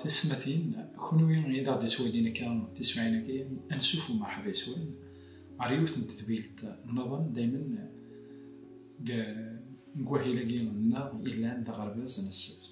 tisetmatin kunwi i d aɣ-d ittwalin akka tiswiɛin-agi ansuf u merḥba iswan ɣer yiwet n tedbilt nniḍen daymen deg wahil-agi nneɣ yellan d aɣerbaz n ssebt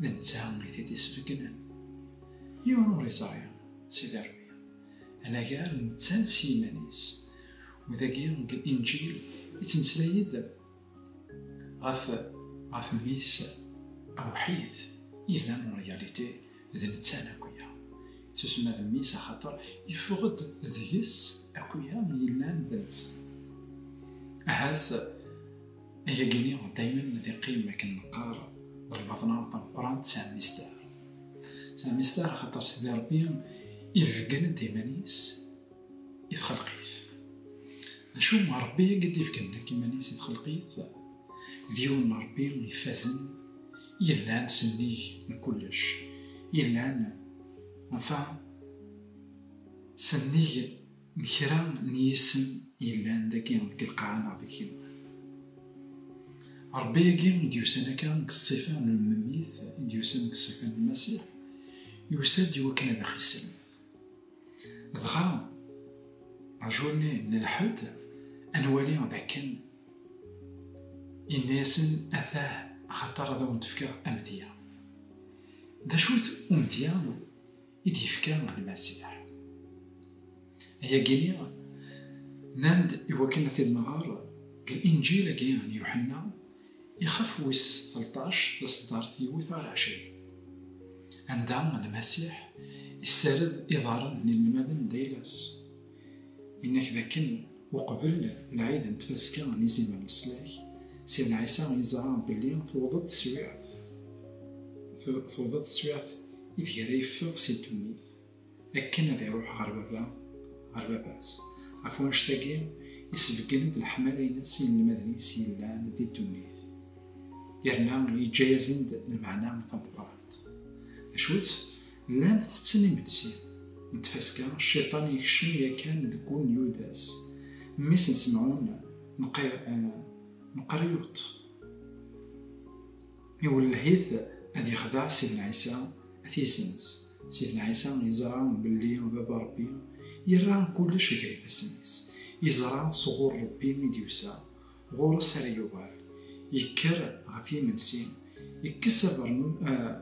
D netta i t-id-isbeggnen. Yiwen ur iẓri, Sidi Ṛebbi. Anagar netta s yiman-is. U dagi deg Inǧil ittmeslay-d ɣef ɣef Mmi-s awḥid. Yella en réalité d netta Nakuya. Yettusemma d Mmi-s axaṭer yeffeɣ-d deg-s akuya yellan d netta. Ahat. Ayagi-nni daymen ad iqqim akken neqqar d lbaḍna tameqqrant tesɛa mistar. Tesɛa mistar xaṭer Sidi Rebbi ibeggen-d iman-is i txelqit. D acu Rebbi i d-ibeggen nekk iman-is i txelqit? D yiwen n Rebbi ifazen, yellan s nnig n kullec, yellan, enfin, s nnig n kra n yisem yellan dagi deg lqaɛa neɣ deg Rebbi-agi i d-yusan akka deg ṣṣifa n lmemmit, i d-yusan deg ṣṣifa n lmasiḥ, yusa-d i wakken ad aɣ-isselmed. Dɣa, rjulni n lḥed, ad nwali d akken yenna-yasen atah axaṭer ad awen-d-fkeɣ amedya. D acu-t umedya? i d-yefka Lmasiḥ. Ayagi-nni, nnan-d i wakken ad t-id-nɣer deg Linǧil-agi n Yuḥenna, ixef wis telṭac, taseddart yiwet ɣer ɛecrin, anda Lmasiḥ issared iḍarren n yinelmaden d ayla-s, Yenna-k d akken uqbel lɛid n tfaska n izimer n leslak, Sidna Ɛisa yeẓra belli tewweḍ-d teswiɛt, tewweḍ-d teswiɛt ideg ara yeffeɣ si ddunit akken ad iruḥ ɣer Baba, ɣer Baba-s. Ɣef wannect-agi, isbeggen-d leḥmala-ines i yinelmaden-is yellan di ddunit, yerna yeǧǧa-yasen-d lmeɛna tameqqrant. D acu-tt? Llan tetten imensi n tfaska, Cciṭan yekcem yakan deg wul n Yudas, mmi-s n Semɛun, Meqriyuṭ. Iwelleh-it ad yexdeɛ Sidna Ɛisa, ad t-yessenz. Sidna Ɛisa yeẓra belli Baba Ṛebbi yerra kullec gar ifassen-is. Yeẓra s ɣur Ṛebbi i d-yusa, Ɣur-s ara yuɣal. Yekker ɣef yimensi, yekkes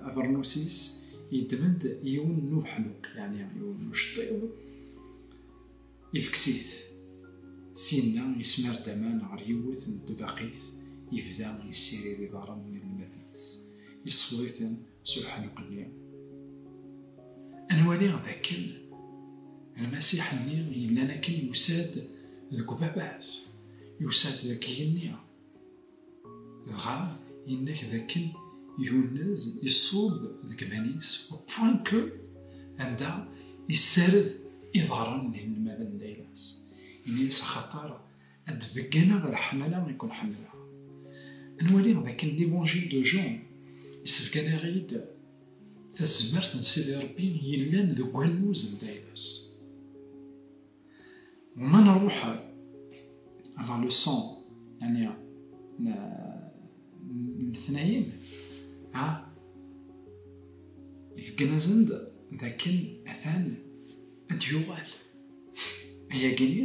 abernus-is, yeddem-d yiwen n ubeḥnuq, yeɛni yiwen n uceṭṭiḍ, ifekkes-it. Syenna yesmar-d aman ɣer yiwet n tbaqit, yebda yessirid iḍarren n yinelmaden-is, yessefḍ-iten s uḥenqelli. Ad nwali d akken lmasiḥ-nni yellan akken yusa-d deg ubabat, yusa-d deg yigenni. Dɣa yennak d akken yunez iṣub deg iman-is au point que anda yessared iḍarren n yinelmaden n Daylas. Ini-as axaṭer A d-begganaɣ leḥmala i ken-ḥemmleɣ. Nwali dakken L'Evangile de Jean yessebganaɣ-iyi-d tazmert n Sidi Ṛebbi yellan deg wannuz n Dailas. U ma nṛuḥ vers le son, yani n letnayen, a ibegganazen-d dakken atan a d-yuɣal. Ayagi-nni.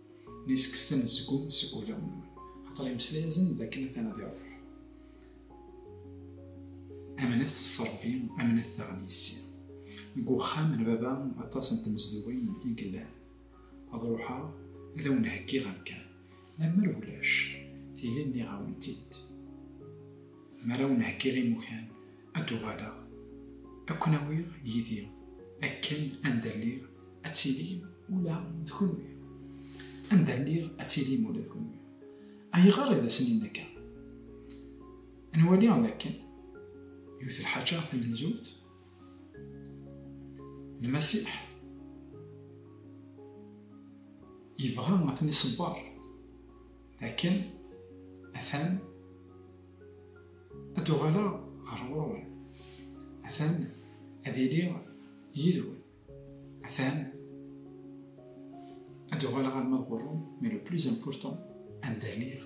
Nni kkset anezgum seg wulawen-nwen, axaṭer imeslayazen d akken atan ad iṛuḥ. Amnet s Ṛebbi, amnet daɣen yis-i. Deg wexxam n Baba aṭas n tmezduɣin i yellan. Ad ṛuḥeɣ ad awen-heggiɣ amkan. Lemmer ulac, tili nniɣ-awen-t-id. Mi ara awen-heggiɣ imukan, ad d-uɣaleɣ, ad ken-awiɣ yid-i, akken anda lliɣ ad tilim ula d kenwi. Anda lliɣ ad tilim ula d kenwi. Ayɣer i d asen-in akka? Ad nwali d akken yiwet lḥaǧa tamenzut, Lmasiḥ yebɣa ad ten-iṣebber d akken atan Ad d-uɣaleɣ ɣer ɣur-wen. Atan ad iliɣ yid-wen. Atan ad d-uɣaleɣ alma d ɣur-wen, mais le plus important, anda lliɣ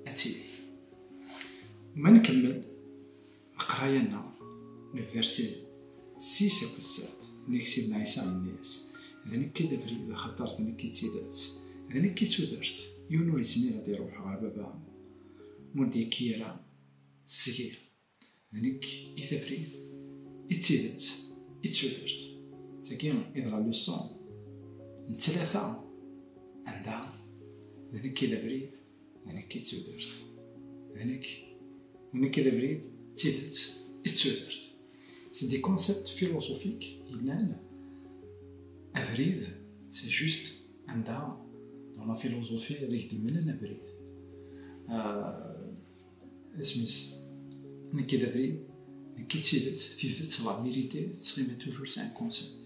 ad tiliḍ. Ma nkemmel leqraya-nneɣ, le verset 6 akked 7, nnig Sidna Ɛisa yenna-yas, D nekk i d abrid, axaṭer d nekk i d tidet, d nekk i d tudert, yiwen ur yezmir ad iruḥ ɣer Baba, m'ur d-yekki ara seg-i. D nekk i tafrit, i d tidet, i d tudert. D tagi i d la leçon n tlata anda d nekk i d abrid, d nekk i d tudert. D nekk, d nekk i d abrid, d tidet, i d tudert. C'est des concepts philosophiques yellan abrid c'est juste Anda la philosophie ad ak-d-mmlen abrid. Isem-is nekki d abrid, nekki d tidet, tidet, la vérité, tettɣimi toujours c'est un concept.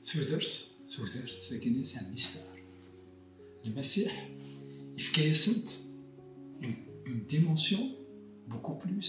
Tudert, tudert, tagini c'est un mystère. Lmasiḥ yefka-yasent une dimension beaucoup plus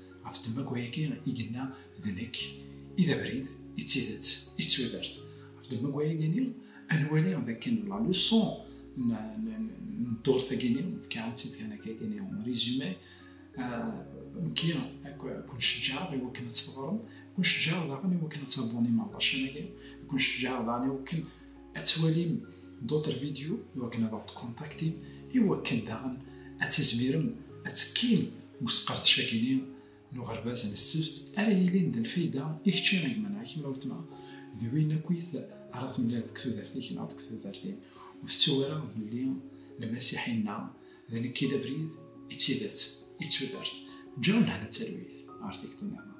Ɣef ddemma akk wayagi i yenna d nekk i d abrid, i d tidet, i d tudert. Ɣef ddemma akk wayagi-ni, ad nwali d akken la leçon n ddurt-agi-ni, nefka-awen-tt-id kan akka-agi-ni, résumé, nekki kun-ceǧǧaɛeɣ i wakken ad teɣrem, kun-ceǧǧaɛeɣ daɣen i wakken ad terbum imeɛḍacan-agi, kun-ceǧǧaɛeɣ daɣen i wakken ad twalim d'autres vidéos iwakken ad aɣ-tkontaktim iwakken daɣen ad tizmirem ad tekkim deg usqerdec-agi-ni n uɣerbaz n ssebt ara yilin d lfayda i kečči a gma neɣ i kemm a weltma d win akkit ara temlal deg tudert-ik neɣ deg tudert-im ur tettu ara belli lmasiḥ inna D nekk i d abrid, i d tidet, i d tudert, ǧǧiɣ lehna d talwit ɣer tikti nniḍen.